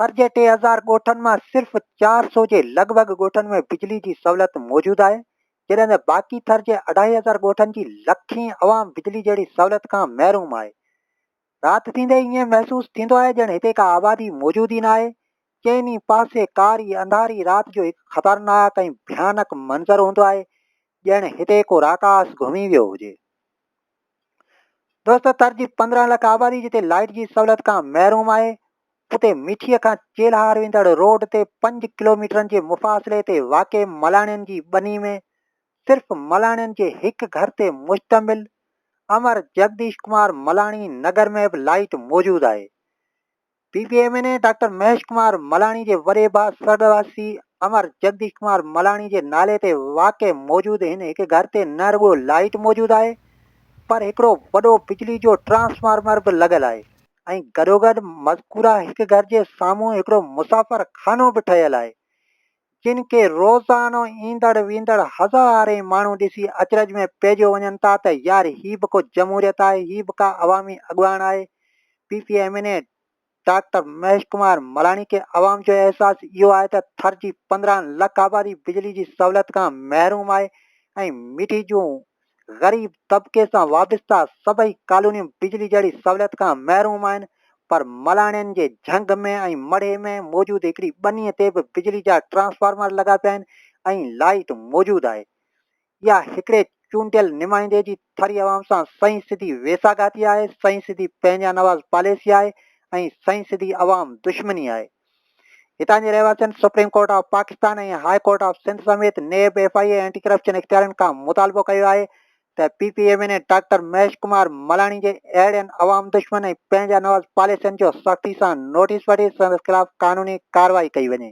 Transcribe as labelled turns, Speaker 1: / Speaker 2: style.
Speaker 1: ٿر جي ٽي هزار ڳوٺن مان صرف چار سو جي لڳ ڀڳ ڳوٺن ۾ بجلي جي سهولت موجود آهي، جڏهن ته باقي ٿر جي اڍائي هزار ڳوٺن جي لکين عوام بجلي جهڙي سهولت کان محروم آهي. رات ٿيندي ئي ائين محسوس ٿيندو آهي ڄڻ هتي ڪا آبادي موجود ئي ناهي. چئن ئي پاسي ڪاري انڌاري رات جو هڪ خطرناڪ ۽ ڀيانڪ منظر هوندو آهي، ڄڻ هتي ڪو راڪاس گهمي ويو هجي. دوستو تر جي پندرهن لک آبادي جتي لائيٽ جي سهولت کان محروم آهي، اتي مٺيء کان چيلهار ويندڙ روڊ تي پنج ڪلوميٽرن جي مفاصلي تي واقع ملاڻين جي ٻني ۾ صرف ملاڻين جي هڪ گهر تي مشتمل امر جگديش ڪمار ملاڻي نگر ۾ به لائيٽ موجود آهي. P P M N A doctor Mahesh Kumar Malani جي وڏي ڀاء سرڳواسي امر جگديش ڪمار ملاڻي جي نالي تي واقع موجود هن هڪ گهر تي نه رڳو لائيٽ موجود آهي پر هڪڙو وڏو بجلي جو ٽرانسفارمر به لڳل آهي ۽ گڏوگڏ مذڪوره هڪ گهر جي سامهون هڪڙو مسافر خانو به ٺهيل آهي جن کي روزانو ايندڙ ويندڙ هزارين ماڻهو ڏسي اچرج ۾ پئجيو وڃن ٿا ته يار هي به ڪو جمهوريت آهي هي به ڪا عوامي اڳواڻ آهي P P M N A doctor Mahesh Kumar Malani کي عوام جو احساس اهو آهي ته ٿر جي پندرهن لک آبادي بجلي جي سهولت کان محروم آهي ۽ مٺي جون غريب طبقي سان وابسته سڀئي ڪالونيون بجلي جهڙي سهوليت کان محروم آهن پر ملاڻين جي جهنگ ۾ ۽ مڙهي ۾ موجود هڪڙي ٻنيء تي به بجلي جا ٽرانسفارمر لڳا پيا آهن ۽ لائيٽ موجود آهي. اها هڪڙي چونڊيل نمائندي جي ٿري عوام سان سهي سڌي ويساهگاتي آهي، سهي سڌي پنهنجانواز پاليسي آهي ۽ سهي سڌي عوام دشمني آهي. هتان جي رهواسين supreme court of Pakistan ۽ high court of Sindh سميت NAB, F I A ۽ anti corruption اختيارين کان مطالبو ڪيو آهي ته P P M N A doctor Mahesh Kumar Malani جي اهڙين عوام دشمن ۽ پنهنجا نواز پاليسين جو سختي سان نوٽيس وٺي سندس خلاف قانوني ڪارروائي ڪئي وڃي.